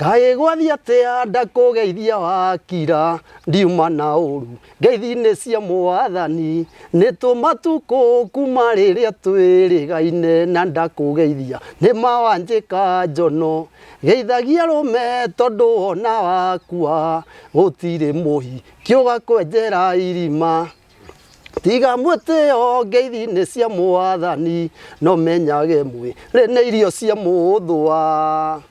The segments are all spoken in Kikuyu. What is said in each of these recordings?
Kaĩ gwathiĩ atĩa ndakũgeithia wakira ndiuma na ũru ngeithi-inĩ cia mwathani nĩ tũmatukũ kuma rĩrĩa twĩrĩgaine na ndakũgeithia nĩ ma wanjĩka njono geithagia rũme tondũ wona wakua gũtirĩ mũhi kĩũga kwenjera irima tiga mwĩtĩo ngeithi-inĩ cia mwathani no menyage mwĩrĩ nĩ irio cia mũthũa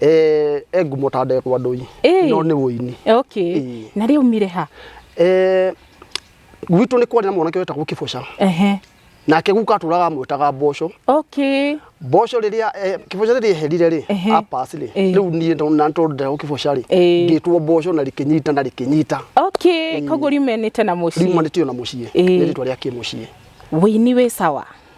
eh, e ngumo ta ndekwa ndũi Ĩĩ. no nĩ ũini okay Ĩĩ. na rĩu mire ha Eh, gwitũ nĩ kwarĩ na mwanake wetagwo kĩboca ehe nake guka atũraga amwĩtaga mboco okay mboco rĩrĩa eh, kĩboca rĩrĩa eherire rĩ Ehe. apas rĩ Ĩĩ. rĩu niĩ ndo- na tondũ ndagwo kĩboca rĩ Ĩĩ. ngĩtwo mboco na rĩkĩnyita na rĩkĩnyita okay koguo riumenĩte na mũciĩ riumanĩtio na mũciĩ Ĩĩ. nĩ rĩtwa rĩa kĩmũciĩ wĩini wĩ sawa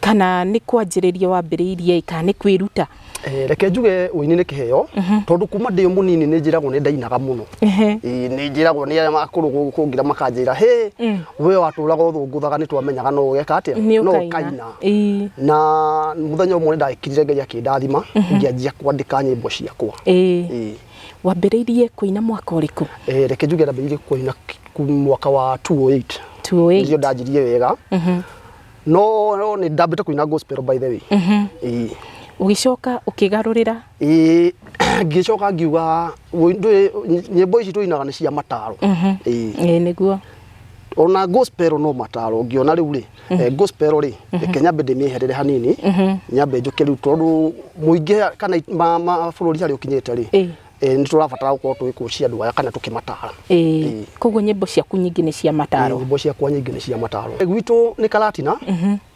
kana nĩ kwanjĩrĩria wambĩrĩirie kana nĩ kwĩruta Eh, reke njuge ũini nĩ kĩheo tondũ kuma ndĩ o mũnini nĩ njĩragwo nĩ ndainaga mũno Ehe. Eh, nĩ njĩragwo nĩ arĩa akũrũ gũ- kũngira makanjĩra hĩ we watũraga ũthũngũthaga nĩ twamenyaga no ũgeka atĩa nĩ no ũkaina ũkaina Ĩĩ. na mũthenya ũmwe nĩ ndagĩkirire ngai akĩndathima ngĩanjia kwandĩka nyĩmbo ciakwa Ĩĩ. Ĩĩ. wambĩrĩirie kũina mwaka ũrĩkũ Eh, reke njuge ndambĩrĩirie kũina ku- mwaka wa 208 nĩrĩo 208 ndanjirie wega no no, nĩ ndambĩte kũina gospel by the way Ĩĩ. ũgĩcoka ũkĩgarũrĩra Ĩĩ, ngĩcoka ngiuga wĩ- ndũĩ- nyĩmbo ici tũinaga nĩ cia mataro Ĩĩ. Ĩĩ, nĩguo ona gospel no mataro ũngĩona rĩu rĩ eh, gospel rĩ reke nyambe ndĩmĩeherere hanini nyambe njoke rĩu tondũ mũingĩ kana ma- mabũrũri harĩa ũkinyĩte rĩ Ĩĩ. Eh, nĩ tũrabatara gũkorwo tũgĩkũcia andũ aya kana tũkĩmatara ĩĩ koguo nyĩmbo ciaku nyingĩ nĩ cia mataro nyĩmbo ciakwa nyingĩ nĩ cia mataro Eh, gwitũ nĩ karatina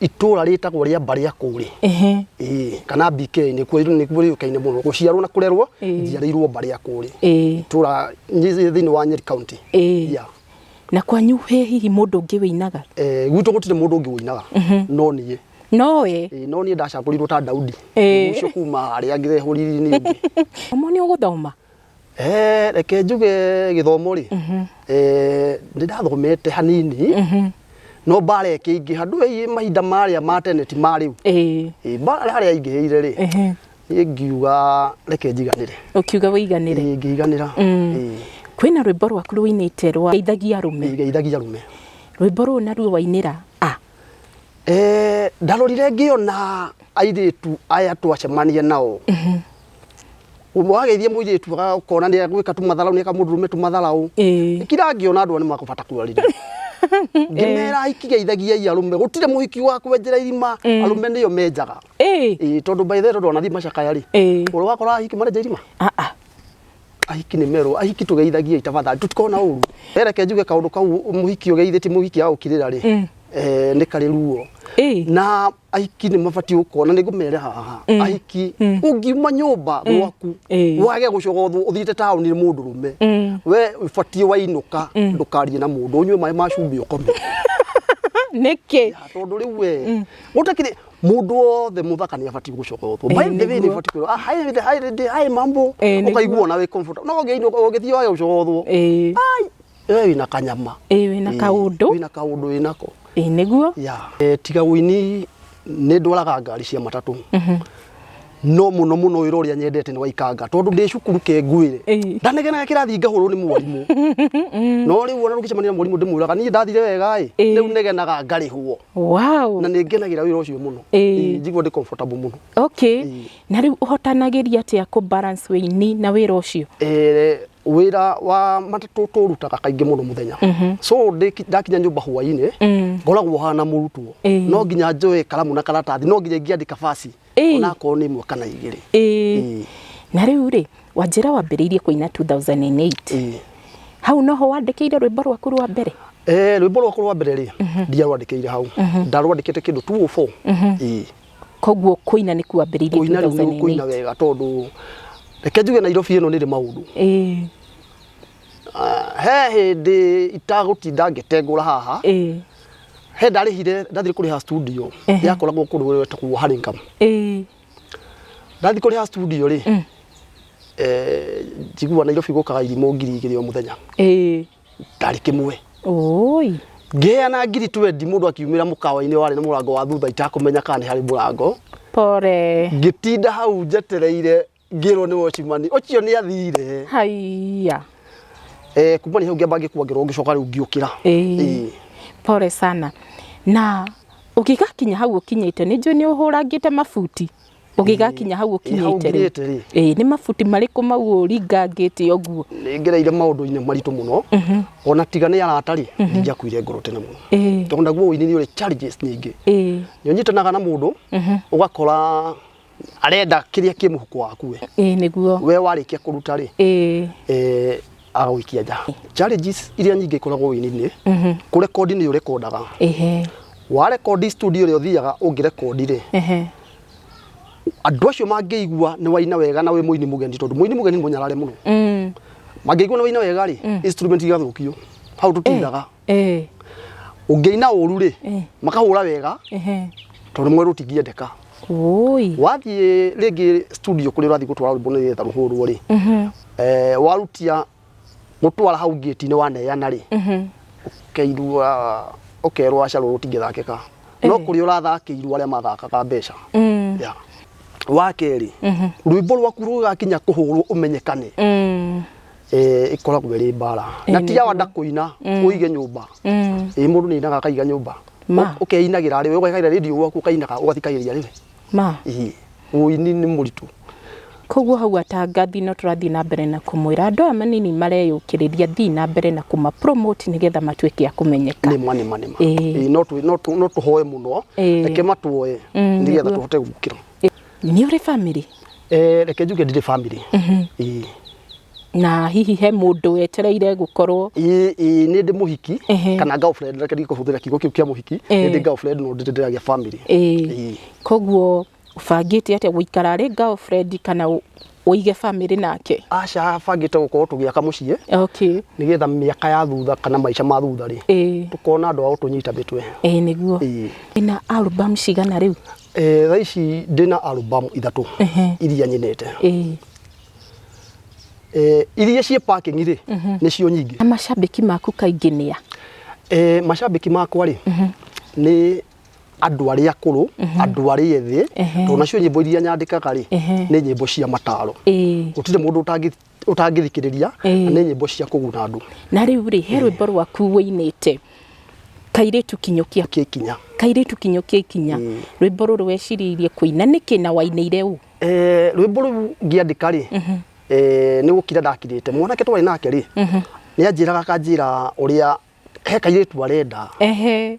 itũra rĩtagwo rĩa mbarĩa kũrĩ Ehe. Ĩĩ, kana BK nĩ kuo nĩ kuo rĩũkaine mũno gũciarwo na kũrerwo Ĩĩ. njiarĩirwo mbarĩa kũrĩ Ĩĩ. itũra nyĩ- thĩinĩ wa Nyeri county Ĩĩ. Yeah. na kwanyu he hihi mũndũ ũngĩ wĩinaga Eh, gwitũ gũtirĩ mũndũ ũngĩ ũinaga no niĩ no we Ĩĩ, no niĩ ndacakũrirwo ta daudi Ĩĩ. ũcio kuma arĩa angĩ ehũriri nĩ ũngĩ omo nĩ ũgũthoma Eh, reke njuge gĩthomo rĩ Eh, nĩ ndathomete hanini no mbara ĩkĩingĩha ndũĩ mahinda marĩa ma tene ti ma rĩu Ĩĩ, Ĩĩ, mbara harĩa ingĩhĩire rĩ ehe. niĩ ngiuga reke njiganĩre ũkiuga wĩiganĩre Ĩĩ, ngĩiganĩra Mm. Ĩĩ, kwĩna rwĩmbo rwaku rũinĩte rwa ndeithagia rũme ngeithagia rume rwĩmbo rũu naruo wainĩra a Eh, ndarorire ngiona airitu aya twacemania nao umwe wageithie muiritu akona ni agwika tu matharau ni akamurume tu matharau Eh. kira ngiona andu ni makubata kwarire ngimera ikigeithagia i arume gutire muhiki wa kwenjera irima arume niyo menjaga Eh. Eh, tondu by the way tondu ona thi macakaya ri Eh. uri wakora hiki marenja irima Ah ah. ahiki nĩ merwo ahiki tũgeithagie tafadhali tũtikona ũru ereke njuge kaũndũ kau mũhiki ũgeithĩti mũhiki agũkirĩra rĩ Eh. eh, nĩ karĩ ruo Eh. na ahiki nĩ mabatiĩ gũkona nĩ ngũmere haha ahiki ũngiuma nyũmba gwaku Eh. wage gũcoka ũthu- ũthiĩte taũni nĩ mũndũ rũme Mm. we ũbatiĩ wainũka ndũkarie na mũndũ ũnyue maĩ ma cumbĩ ũkome nĩkĩ Ya, tondå rä u we gå takirä mundu wothe muthaka ni abati gucoka utwo Eh, by the way ni nĩguo. abati kwirwo ah hi hi hi hi mambo Eh, nĩguo. ukaigua na wi comfort no ngi ngi thio ayo gucoka utwo ĩĩ ai we wina kanyama ĩĩ wĩna kaũndũ wina kaundu winako ĩĩ nĩguo ya Eh, tiga wini nä ndwaraga ngari cia matatå no muno muno wira uria nyendete ni waikanga tondu ndi cukuru ke ngwire Ĩĩ. ndanegenaga kirathi ngahurwo ni mwarimu no riu ona rukicemania na mwarimu ndimwiraga niĩ ndathire wega ĩ Ĩĩ. riu negenaga ngarihwo wow na nĩ ngenagira wira ucio muno Ĩĩ. Ĩĩ, njigua ndi comfortable muno okay Ĩĩ. na rĩu ũhotanagĩria atĩa kũ balance wĩini na wĩra ũcio Eh, wira wa matatũ tũrutaga kaingĩ mũno mũthenya so ndĩki- ndakinya nyũmba hwainĩ Mm. ngoragwo hana mũrutwo Ĩĩ. no nginya njoe karamu na karatathi no nginya ingĩandĩka basi Ĩĩ. onakorwo nĩ ĩmwe kana igĩrĩ Ĩĩ. Ĩĩ. na rĩu rĩ wanjĩra wambĩrĩirie kũina 2008 Ĩĩ. hau noho wandĩkĩire rwĩmbo rwaku rwa mbere Eh, rwĩmbo rwakwa rwa mbere rĩ ndiarwandĩkĩire hau ndarwandĩkĩte kĩndũ 204 Ĩĩ. koguo kũina nĩ kuambĩrĩirie kũina rĩu nĩ kũina 2008 wega tondũ reke njuge nairobi ĩno nĩrĩ maũndũ Ĩĩ. Ah, he hĩndĩ itagũtinda ngĩtengũra haha ĩĩ he ndarĩhire ndathire kũrĩha studio Ehe. yakoragwo kũndũ gwetagwo Haringam ĩĩ ndathi kũrĩha studio rĩ Mm. eh, njiguaga Nairobi gũkaga irimũ ngiri igĩrĩ o mũthenya ĩĩ ndarĩ kĩmwe oi ngĩheana ngiri twendi mũndũ akiumĩra mũkawa-inĩ warĩ na mũrango wa thutha itakũmenya kana nĩ harĩ mũrango pore ngĩtinda hau njetereire ngĩrwo nĩ watchman ũcio nĩ athire haiya eh kuma nĩ hau ngĩamba ngĩkua ngĩrwo ngĩcoka rĩu ngiũkĩra Ĩĩ. pole sana na ũgĩgakinya hau ũkinyĩte nĩ njũĩ nĩ ũhũrangĩte mabuti ũgĩgakinya hau Ĩ, hau ũkinyĩte rĩ nginyĩte rĩ ĩĩ nĩ mabuti marĩkũ mau ũringangĩte ũguo nĩ ngereire maũndũ-inĩ maritũ mũno ona tiga nĩ arata rĩ ndinjakuire ngoro tene mũno Ĩĩ, tondũ naguo ũini nĩ ũrĩ challenges nyingĩ ĩĩ nĩ ũnyitanaga na mũndũ ũgakora arenda kĩrĩa kĩ mũhuko waku we ĩĩ nĩguo we warĩkia kũruta rĩ ĩĩ eh, agagũikia nja challenges iria nyingĩ ikoragwo wĩini-inĩ kũrekondi nĩ ũrekondaga ĩhe warekondi studio ĩrĩa ũthiaga ũngĩrekondi rĩ ĩhe andũ acio mangĩigua nĩ waina wega na wĩ mũini mũgeni tondũ mũini mũgeni nĩ mũnyarare mũno Mm. mangĩigua nĩ waina wega rĩ instrument igathũkio hau tũtinaga eh ũngĩina ũru rĩ eh makahũra wega eh tondũ mwerũ tingĩendeka oi wathiĩ rĩngĩ studio kũrĩa ũrathiĩ gũtwara rwĩmbo nĩ getha rũhũrwo rĩ mhm eh, warutia gũtwara hau ngĩti-inĩ waneana rĩ mhm ũkeirua ũkerwo aca rũrũ tingĩthakĩka no kũrĩa ũrathakĩirwo arĩa mathakaga mbeca mm yeah. wa kerĩ rwĩmbo rwaku rũgakinya kũhũrwo ũmenyekane mm eh, ĩkoragwo ĩrĩ mbara Ĩĩ, na nĩ ti ya wanda kũina ũige nyũmba Mm. ĩ mũndũ nĩ ainaga akaiga nyũmba Ma. Ũ- ũkeinagĩra rĩwe ũgekagĩra rĩndiũ gwaku ũkainaga ũgathikagĩrĩria rĩwe ma Ĩĩ, ũini nĩ mũritũ koguo hau atangathi no tũrathiĩ na mbere na kũmwĩra andũ aya manini mareyũkĩrĩria thiĩ na mbere na kũma promote nĩgetha matuĩke a kũmenyeka nĩma nĩma nĩma Ĩĩ. Ĩĩ, no tũ- no tũ- no tũhoe mũno Ĩĩ. reke matuoe Mm, nĩgetha nĩguo. tũhote gũkĩra nĩ ũrĩ bamĩrĩ Eh, reke njuge ndirĩ family Ĩĩ. na hihi he mũndũ wetereire gũkorwo Ĩĩ, ĩĩ, nĩ ndĩ mũhiki Ehe. kana girlfriend reke ndige kũhũthĩra kiugo kĩu kĩa mũhiki Eh. nĩ ndĩ girlfriend no ndirĩ ndĩragĩa family Ĩĩ. Ĩĩ. koguo ũbangĩte atĩa gũikara arĩ girlfriend kana ũ- ũige bamĩrĩ nake aca bangĩte gũkorwo tũgĩaka mũciĩ okay nĩgetha mĩaka ya thutha kana maica ma thutha rĩ ĩĩ tũkona andũ a gũtũnyita mĩtwe ĩĩ nĩguo Ĩĩ. ĩna album cigana rĩu Eh, thaa ici ndĩ na albamu ithatũ iria nyinĩte Ĩĩ. Eh, iria ciĩ parking rĩ nĩcio nyingĩ Na macambĩki maku kaingĩ nĩ a? Eh, macambĩki makwa rĩ nĩ andũ arĩa akũrũ andũ arĩa ethĩ Ehe. tondũ nacio nyĩmbo iria nyandĩkaga rĩ Ehe. nĩ nyĩmbo cia mataro Ĩĩ. gũtirĩ mũndũ ũtangĩ- ũtangĩthikĩrĩria na nĩ nyĩmbo cia kũguna andũ na rĩu rĩ he rwĩmbo rwaku wĩinĩte kairĩtu kinyũkia kĩkinya kairĩtu kinyũkia ikinya rwĩmbo rũrũ weciririe kũina nĩkĩ na wainĩire ũ Eh, rwĩmbo rũu ngĩandĩka rĩ eh, nĩ gũkira ndakirĩte mwanake twarĩ nake rĩ nĩ anjĩraga akanjĩra ũrĩa he kairĩtu arenda ehe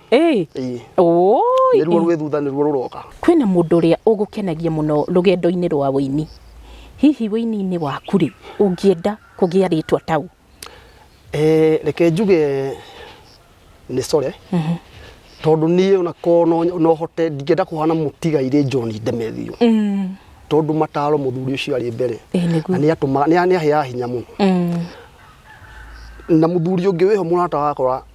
Ĩĩ. Ĩĩ. Ũũi. Nĩruo rwĩ thutha nĩruo rũroka. Kwĩna mũndũ ũrĩa ũgũkenagia mũno rũgendo-inĩ rwa ũini. Hihi ũini-inĩ waku rĩ, ũngĩenda kũgĩa rĩtwa ta ũ? Ee, reke njuge nĩ Sore. Tondũ niĩ ona korwo no- no hote ndingĩenda kũhana mũtigairĩ John Ndemethiũ. Tondũ mataro mũthuri ũcio arĩ mbere. Ĩĩ nĩguo. Na nĩ atũmaga nĩ nĩ aheaga hinya mũno. Na mũthuri ũngĩ wĩho mũrata wakwa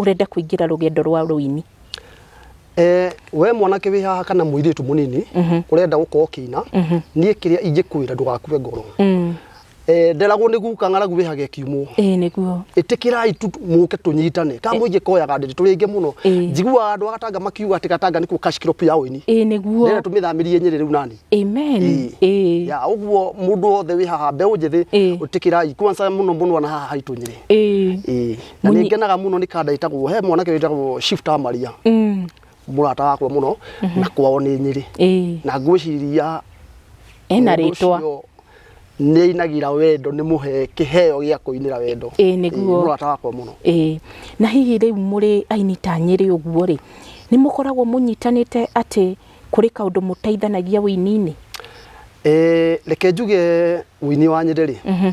ũrenda kũingĩra rũgendo rwa rũini? Eh, we mwanake wĩ haha kana mũirĩtu mũnini mhm. ũrenda gũkorwo kĩina mhm. niĩ kĩrĩa ingĩkwĩra ndũgakue ngoro mm. eh, nderagwo nĩ guka ng'aragu wĩhage kiumũ ĩtĩkĩrai mũke tũnyitane ka mũingĩ koyaga ndĩrĩ tũrĩ aingĩ mũno njiguaga andũ agatanga makiuga atĩ gatanga nĩkuo kashikirop ya ũini nĩgetha tũmĩthamirie nyĩrĩ rĩu nani ya ũguo mũndũ wothe wĩ haha mbeũ njĩthĩ ũtĩkĩrai kwansa mũno mũno na haha haitũ nyĩrĩ na nä ngenaga må no nä kanda ĩtagwo he mwanake wĩtagwo shift wa maria Mm. mũrata wakwa må no na kwao nä nyä rä Ĩĩ. na ngwä ciria ena rĩtwa nä ainagä ra wendo nä må he kä heo gä a kå inä ra wendo Ĩĩ, nĩguo. må rata wakwa må no Ĩĩ. na hihi rĩu mũrĩ aini ta nyĩrĩ ũguo rĩ nĩ mũkoragwo mũnyitanĩte atĩ kũrĩ kaũndũ mũteithanagia ũini-inĩ Eh, reke njuge wini wa nyä rä rä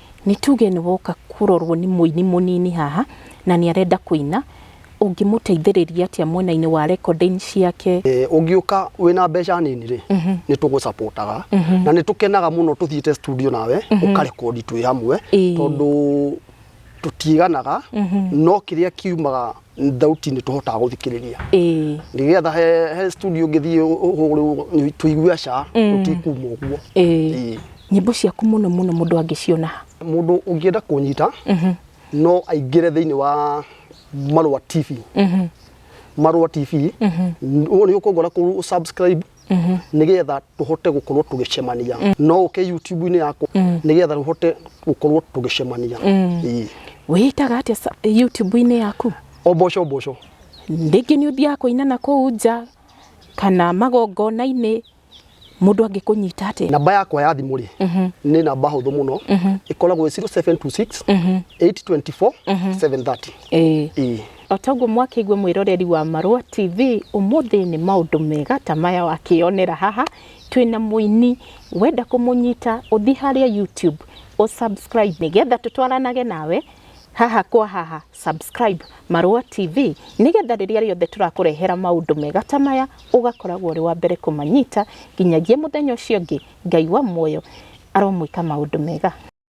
nĩ tuge nĩ woka kũrorwo nĩ mũini mũnini haha na nĩ arenda kũina, ũngĩmũteithĩrĩria atĩa mwena-inĩ wa recording ciake? Eh, ũngĩũka wĩna mbeca nini rĩ nĩ tũgũcapotaga na nĩ tũkenaga mũno tũthiĩte studio nawe ũkarekondi twĩ hamwe Ĩĩ. tondũ tũtiĩganaga no kĩrĩa kiumaga thauti nĩ tũhotaga gũthikĩrĩria Ĩĩ, nĩgetha he, he studio ũngĩthiĩ ũhũrĩrwo tũigue ca tũtikuma ũguo ĩĩ. Ĩĩ. Nyĩmbo ciaku mũno mũno mũndũ angĩciona ha? Mũndũ ũngĩenda kũnyita no aingĩre thĩinĩ wa Marũa TV. Marũa TV, ũguo nĩ ũkũngora kũ subscribe nĩgetha tũhote gũkorwo tũgĩcemania. No ũke YouTube-inĩ yakwa nĩgetha tũhote gũkorwo tũgĩcemania. Ĩĩ. Wĩĩtaga atĩa sa- YouTube-inĩ yaku? Oboco Oboco. Rĩngĩ nĩ ũthiaga kũina na kũu nja kana magongona-inĩ Mũndũ angĩkũnyita atĩa? Namba yakwa ya thimũ rĩ nĩ namba hũthũ mũno ĩkoragwo 0726 824 730. Ĩĩ. Ĩĩ. O ta ũguo mwakĩigua mwĩroreri wa Marũa TV, ũmũthĩ nĩ maũndũ mega ta maya wakĩyonera haha, twĩna mũini, wenda kũmũnyita ũthiĩ harĩa YouTube ũ subscribe nĩgetha tũtwaranage nawe haha kwa haha, subscribe Marũa TV nĩgetha rĩrĩa rĩothe tũrakũrehera maũndũ mega ta maya ũgakoragwo ũrĩ wa mbere kũmanyita, nginyagia mũthenya ũcio ũngĩ Ngai wa muoyo aromwĩka maũndũ mega.